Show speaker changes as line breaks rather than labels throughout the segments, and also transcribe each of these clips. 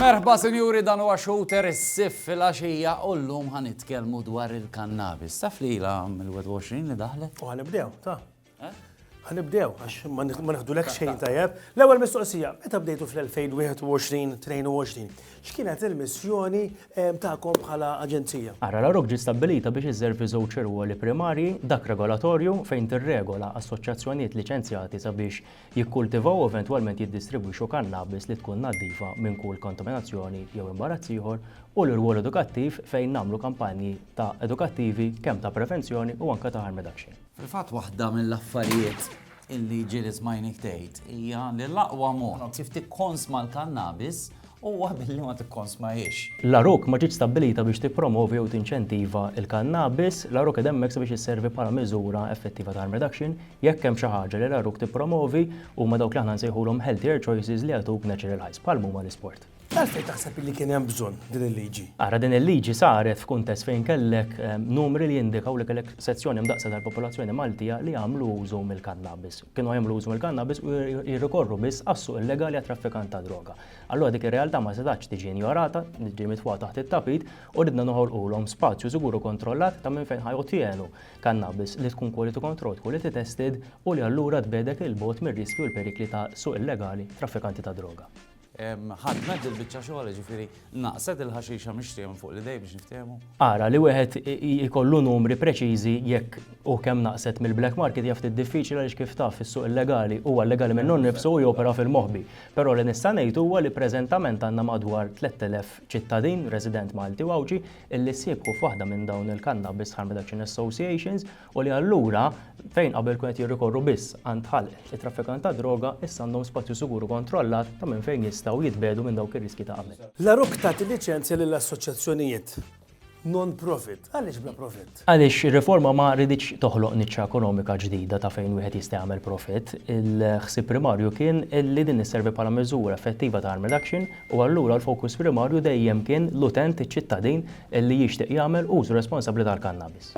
Merħba sinjuri dan huwa shooter is-sif fil-għaxija u llum ħa nitkellmu dwar il-kannabis. Taf li ilha mill-21 li daħlet? U ħanibdew, ta.
Ħanibdew, għax ma neħdulek xejn tajjeb. L-ewwel mistoqsija, meta bdejtu fl-2021-22, x'kienet il-missjoni eh, tagħkom bħala aġenzija? Ara la ġi stabbilita
biex iżżervi żewġ irwoli primarji, dak regolatorju fejn tirregola assoċjazzjonijiet liċenzjati sabiex jikkultivaw u eventwalment jiddistribwixxu kannabis li tkun naddifa minn kull kontaminazzjoni jew imbarazz ieħor u l-irwol edukattiv fejn nagħmlu kampanji ta' edukattivi kemm ta' prevenzjoni u anke ta' harm reduction. Fil-fatt waħda
mill-affarijiet illi ġieli smajnik tgħid hija li l-aqwa mod kif tikkonsma l-kannabis huwa billi ma tikkonsmahiex. L-għaruq ma ġietx
stabbilita biex tippromovi jew tinċentiva l-kannabis, l-għaruq qiegħda hemmhekk sabiex isservi bħala miżura effettiva ta' harm reduction. Jekk hemm xi ħaġa li l-għaruq tippromovi huma dawk li aħna nsejħulhom healthier choices li jagħtuk natural highs, bħal m'huma l-isport. Għalfejn taħseb illi
kien hemm bżonn din il-liġi? Ara din il-liġi
saret f'kuntest fejn kellek numri li jindikaw li kellek sezzjoni mdaqsa tal-popolazzjoni Maltija li jagħmlu użu mill-kannabis. Kienu jagħmlu użu mill-kannabis u jirrikorru biss għas-suq illegali għat-traffikant ta' droga. Allura dik ir-realtà ma setax tiġi injorata, tiġi mitfuha taħt it-tapit u ridna noħolqulhom spazju sigur u kontrollat ta' minn fejn ħa jottienu kannabis li tkun quality controlled, quality tested u li allura tbegħdek 'il bogħod mir-riskji u l-perikli ta' suq illegali, traffikanti ta' droga. Ħadmet
dil-biċċa xogħol, jiġifieri naqset il-ħaxixa mixtieqa minn fuq l-idejn biex niftehmu. Ara, li wieħed
ikollu numri preċiżi jekk u kemm naqset mill-black market hija ftit diffiċli għaliex kif taf is-suq illegali huwa illegali minnu nnifsu u jopera fil-moħbi. Però li nista' ngħid huwa li preżentament għandna madwar 3,000 ċittadin, resident Malti u Għawdxi, illi ssieħbu f'waħda minn dawn il-cannabis harm reduction associations, u li allura fejn qabel kienu qed jirrikorru biss għand ħalq it-traffikant tad-droga, issa għandhom spazju sigur u kontrollat ta' minn fejn jistgħu jitbiegħdu minn dawk ir-riskji ta' qabel. L-Għeruq tagħti liċenzja
lil assoċjazzjonijiet non-profit. Għaliex bla profitt? Għaliex ir-riforma ma
riditx toħloq niċċa ekonomika ġdida ta' fejn wieħed jista' jagħmel profitt. Il-ħsieb primarju kien li din isservi bħala miżura effettiva ta' harm reduction u allura l-fokus primarju dejjem kien l-utent, iċ-ċittadin li jixtieq jagħmel użu responsabbli tal-kannabis.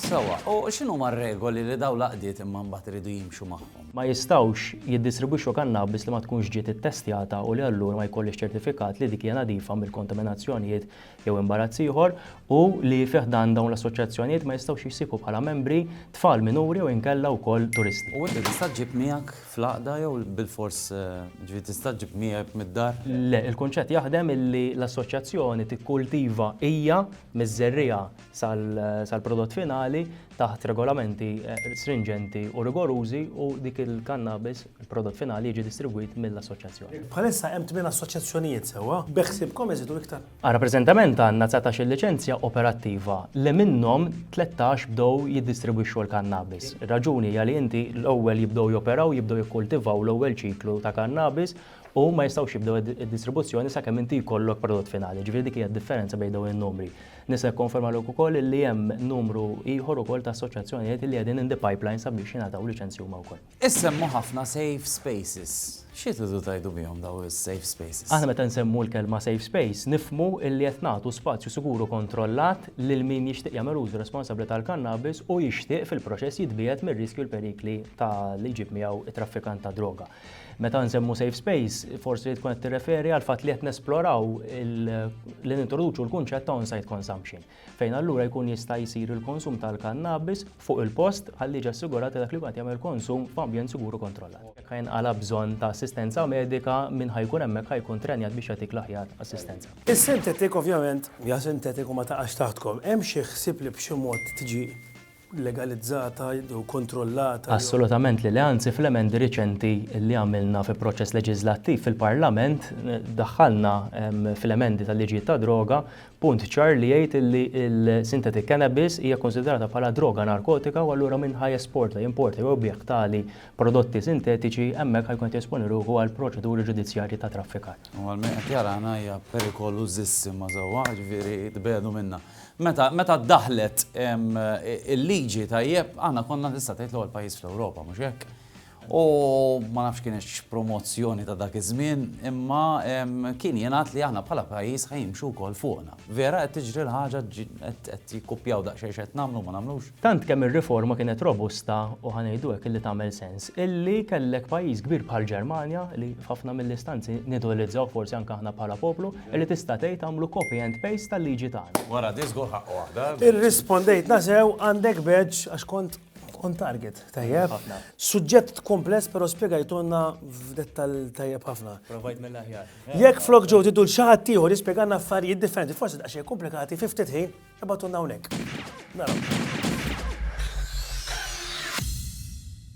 Sewwa, u
x'inhuma r-regoli li dawn l-għaqdiet imma mbagħad iridu jimxu magħhom? Ma jistgħux
jiddistribwixxu kannabis li ma tkunx ġiet ittestjata u li allura ma jkollhiex ċertifikat li dik hija nadifa mill-kontaminazzjonijiet jew imbarazz ieħor u li fi ħdan dawn l-assoċjazzjonijiet ma jistgħux jissieħbu bħala membri tfal minuri jew inkella wkoll turisti. U inti tista' ġġib
miegħek fl-għaqda jew bilfors, jiġifieri tista' ġġib miegħek mid-dar? Le, il-kunċett
jaħdem illi l-assoċjazzjoni tikkultiva hija miż-żerriegħa sal-prodott finali taħt regolamenti strinġenti u rigorużi u dik il-kannabis, il-prodott finali jiġi distribwit mill-Assoċjazzjoni. Bħalissa hemm tmien
assoċjazzjonijiet sewwa, beħsiebkom iżidu iktar? Rappreżentament
għandna dsatax-il liċenzja operattiva li minnhom tlettax bdew jiddistribwixxu l-kannabis. Ir-raġuni hija li inti l-ewwel jibdew joperaw, jibdew jikkultivaw l-ewwel ċiklu ta' kannabis u ma jistgħux jibdew id-distribuzzjoni sakemm inti jkollok prodott finali. Ġifieri dik hija d-differenza bejn dawn in-numri. Nista' nikkonfermalek ukoll illi hemm numru ieħor ukoll ta' assoċjazzjonijiet illi qegħdin in the pipeline sabiex jingħataw liċenzji huma wkoll. Issemmu ħafna
safe spaces. Xi tridu tgħidu bihom dawn is-safe spaces? Aħna meta nsemmu l-kelma
safe space nifhmu illi qed nagħtu spazju sigur u kontrollat lil min jixtieq jagħmel użu responsabbli tal-kannabis u jixtieq fil-proċess jitbiegħed mir-riskji u l-perikli ta' li jġib miegħu t-traffikant tad-droga. Meta nsemmu safe space, forsi tkun qed tirreferi għal fatt li qed nesploraw li nintroduċu l-kunċett ta' on-site consumption, fejn allura jkun jista' jsir il-konsum tal-kannabis fuq il-post ħalli jiġi assigurat li dak li jkun qed jagħmel konsum f'ambjent sigur u kontrollat. Jekk ħa jinqala' bżonn ta' assistenza medika, min ħa jkun hemmhekk ħa jkun trenjat biex jagħtik l-aħjar assistenza. Is-synthetic ovvjament
hija synthetic u ma taqax taħtkom. Hemm xi ħsieb li b'xi mod tiġi legalizzata jew kontrollata jew. Assolutament li le,
anzi fl-emendi riċenti li għamilna fi proċess leġiżlattiv fil-Parlament daħħalna fl-emendi tal-liġijiet tad-droga punt ċar li jgħid li l-synthetic cannabis hija kkunsidrata bħala droga narkotika u allura min ħa jesporta, jimporta jew ibiegħ tali prodotti sintetiċi hemmhekk ħa jkun qed jesponi ruħu għal proċeduri ġudizzjarji ta' traffikar. U għal min qed jarana
hija perikolużissima sewwa, jiġifieri tbiegħdu minnha. Meta meta ddaħħlet il-liġi tajjeb, aħna konna tista' tgħid l-ewwel pajjiż fl-Ewropa, mhux hekk? U ma nafx kien hekk promozzjoni ta' dak iż-żmien, imma kien jingħad li aħna bħala pajjiż ħa jimxu wkoll fuqna. Vera qed tiġri l-ħaġa qed jikkupjaw daqsxejn x'qed nagħmlu ma nagħmlux? Tant kemm ir-riforma
kienet robusta u ħa ngħidu hekk illi tagħmel sens, illi kellek pajjiż kbir bħall-Ġermanja, li f'ħafna mill-istanzi nidoilizzawh forsi anke aħna bħala poplu, illi tista' tgħid għamlu copy and paste tal-liġi tagħna. Wara di żgur ħaqqu waħda.
Irrispondejtna
sew, għandek badge għax kont on target. Tajjeb ħafna. Suġġett kompless però spjegajtulna f'dettall tajjeb ħafna. Provajt mill-aħjar.
Jekk flok Joe tiddu
l xi ħadd ieħor jispjegalna affarijiet differenti, forsi daqsxejn komplikati, fi ftit ħin, Ibgħatulna hawnhekk. Naraw.